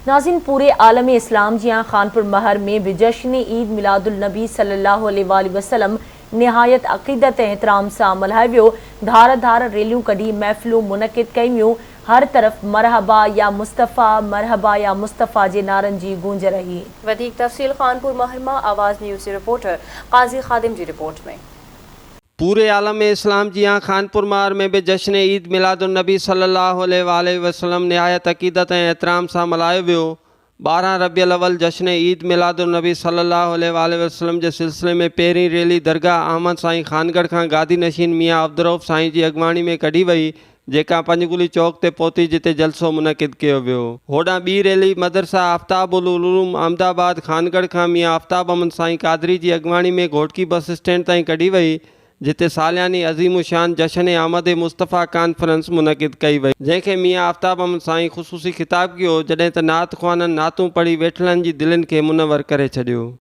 ناظرين پوري عالم اسلام جيان خانپور مهر ۾ به جشن عيد ميلاد النبي صلي الله عليه واٰله وسلم نهايت عقيدت ۽ احترام سان ملهايو ويو، ڌار ڌار ريليون ڪڍي محفلون منعقد ڪيون ويون، هر طرف مرحبا يا مصطفيٰ، مرحبا يا مصطفيٰ جي نعرن جي گونج رهي. وڌيڪ تفصيل خانپور مهر مان آواز نيوز جي رپورٽر قاضي خادم جي رپورٽ ۾. پوري عالم اسلام جيان خانپور مار ۾ به جشن عيد ميلاد النبي صلي الله عليه وآله وسلم نهايت عقيدت ۽ احترام سان ملهايو ويو. ٻارهن ربيع الاول جشن عيد ميلاد النبي صلي الله عليه وآله وسلم جي سلسلي ۾ پهرين ريلي درگاهه احمد سائين خانڳڙهه کان گادي نشين ميان عبدالرؤف سائين جي اڳواڻي ۾ ڪڍي وئي جيڪا پنجگلي چوڪ تي پهتي جتي جلسو منعقد ڪيو ويو. هوڏانهن ٻي ريلي مدرسه آفتاب العلوم احمد آباد خانڳڙهه کان ميان آفتاب احمد سائين قادري جي اڳواڻي ۾ گهوٽڪي بس اسٽينڊ تائين ڪڍي وئي جتي سالياني عظيم الشان جشن آمد مصطفيٰ ڪانفرنس منعقد ڪئي وئي جنهن کي ميان آفتاب احمد سائين خصوصي خطاب ڪيو جڏهن ته نعت خوانن نعتون پڙهي ويٺلن جي دلين کي منور ڪري ڇڏيو.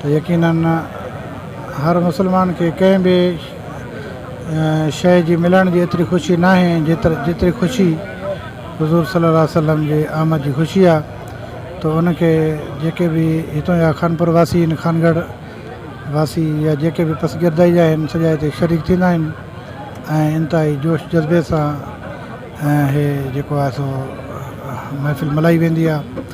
ته يقينن هر مسلمان کي ڪنهن به شيء جي ملڻ جي ايتري خوشي ناهي جيتري جيتري خوشي حضور صلي الله عليه وسلم جي آمد جي خوشي آ ته ان کي جيڪي به هتون جا خانپور واسي ان خانگڙ واسي يا جيڪي به پس گردائي جا آهن سڄا هتي شريڪ ٿيندا آهن ۽ انتهائي جوش جذبي سان هي جيڪو آ سو محفل ملهائي ويندي آ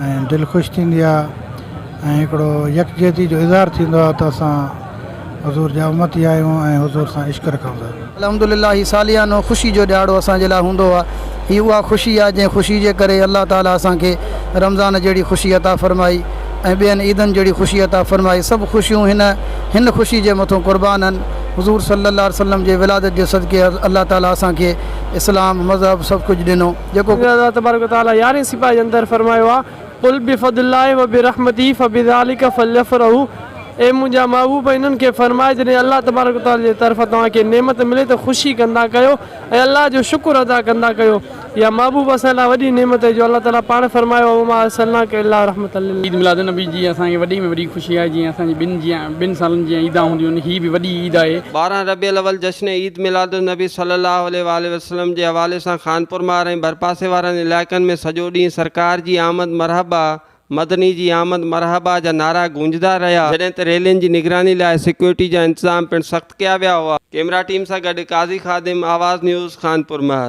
۽ دل خوش ٿيندي آهي ۽ هڪڙو يڪجهتي جو اظهار ٿيندو آهي ته اسان حضور جا امتي آهيون ۽ حضور سان عشق رکون ٿا. الحمدلله هي ساليانو خوشي جو ڏهاڙو اسان جي لاء هوندو آهي. هي اها خوشي آهي جنهن خوشي جي ڪري الله تعاليٰ اسان کي رمضان جهڙي خوشي عطا فرمائي ۽ ٻين عيدن جهڙي خوشي عطا فرمائي سڀ خوشيون هن هن خوشي جي مٿون قربان آهن حضور صلي الله عليه وسلم جي ولادت جي صدقي الله تعاليٰ اسان کي اسلام مذهب سڀ ڪجهه ڏنو جيڪو ڪجهه الله تبارڪ و تعاليٰ يارهين سپاري جي اندر فرمايو آهي، قل بفضل الله وبرحمته فبذلک فليفرحوا اي منهنجا محبوب انهن کي فرماء جڏهن الله تبارڪ و تعاليٰ جي طرفان توهان کي نعمت ملي ته خوشي ڪندا ڪيو ۽ الله جو شڪر ادا ڪندا ڪيو يا محبوب اسان لاء وڏي نعمت هي جو الله تعاليٰ پاڻ فرمايو آهي وما ارسلناک الا رحمة للعالمين. عيد ميلاد النبي جي اسان کي وڏي ۾ وڏي خوشي آهي جيئن اسان جي ٻن جيان ٻن سالن جيان عيدان هونديون آهن هي به وڏي عيد آهي. ٻارهن ربيع الاول جشن عيد ميلاد النبي صلي الله عليه واٰله اسلم جي حوالي سان خانپور مار ۽ ڀرپاسي وارن علائقن ۾ سڄو ڏينهن سرڪار جي آمد مرحبا، مدني جي آمد مرحبا جا نعرا گونجدا رهيا، جڏهن ته ريلين جي نگراني لاء سيڪيورٽي جا انتظام پڻ سخت ڪيا ويا هئا. ڪيمرا ٽيم سان گڏ قاضي خادم، آواز نيوز، خانپور مار.